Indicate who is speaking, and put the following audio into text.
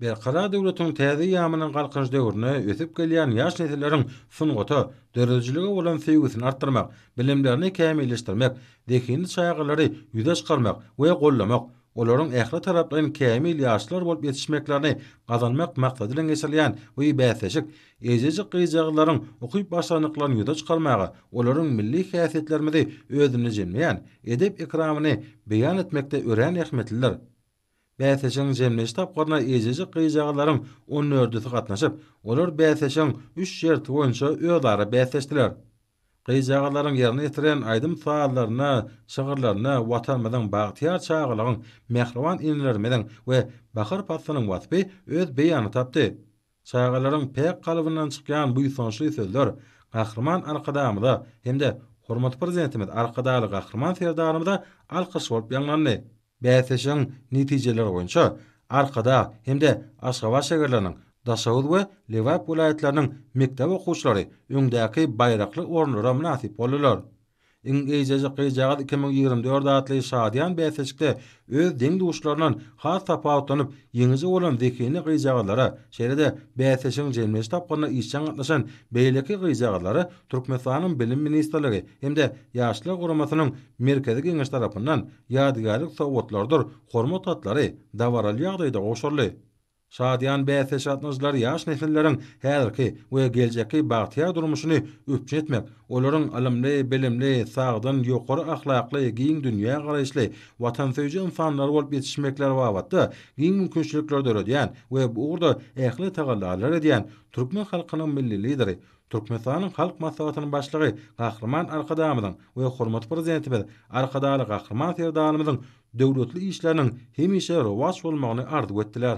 Speaker 1: Berkarar döwletiň täze eýýamynyň Galkynyş döwründe ösüp gelýän ýaş nesilleriň sungata, döredijilige bolan söýgüsini artdyrmak, bilimlerini kämilleşdirmek, zehinli çagalary ýüze çykarmak we gollamak, olaryň ähli taraplaýyn kämil ýaşlar bolup ýetişmeklerini gazanmak maksady bilen geçirilýän bu bäsleşik eýjejik gyzjagazlaryň ukyp başarnyklaryny ýüze çykarmaga, olaryň milli häsiýetlerimizi özünde jemleýän edep-ekramyny beýan etmekde örän ähmiýetlidir. Bäsleşigiň jemleýji tapgyryna eýjejik gyzjagazlaryň on dördüsi gatnaşyp, olar bäsleşigiň üç şerti boýunça özara bäsleşdiler. Gyzjagazlaryň ýerine ýetiren aýdym-sazlaryna, şygyrlaryna Watanymyzyň, bagtyýar çagalygyň, mähriban enelerimiziň we bahar paslynyň waspy öz beýanyny tapdy. Çagalaryň päk kalbyndan çykýan buýsançly sözler Gahryman Arkadagymyza hem-de hormatly Prezidentimiz Arkadagly Gahryman Serdarymyza alkyş bolup ýaňlandy. Bäsleşigiň netijeleri boýunça Arkadag hem-de Aşgabat şägerleriniň, Daşoguz we Lebap welaýatlarynyň mekdep okuwçylary öňdäki baýrakly orunlara mynasyp boldular. Iň eýjejik gyzjagaz iki müň ýigrimi dört atly şadyýan bäsleşikde öz deň-duşlaryndan has tapawutlanyp, ýeňiji bolan zehinli gyzjagazlara, şeýle-de bäsleşigiň jemleýji tapgyrynda işjeň gatnaşan beýleki gyzjagazlara Türkmenistanyň Bilim ministrligi hem-de Ýaşlar guramasynyň Merkezi Geňeşi tarapyndan ýadygärlik sowgatlarydyr hormat hatlary dabaraly ýagdaýda gowşuryldy. Şadyýan bäsleşik gatnaşyjylary ýaş nesilleriň häzirki we geljekki bagtyýar durmuşyny üpjün etmek, olaryň ylymly, bilimli, sagdyn, ýokary ahlakly, giň dünýägaraýyşly, watansöýüji ynsanlar bolup ýetişmekleri babatda giň mümkinçilikleri döredýän we bu ugurda ähli tagallalar edýän türkmen halkynyň Milli Lideri, Türkmenistanyň Halk Maslahatynyň Başlygy Gahryman Arkadagymyzyň we hormatly Prezidentimiz Arkadagly Gahryman Serdarymyzyň döwletli işleriniň hemişe rowaç bolmagyny arzuw etdiler.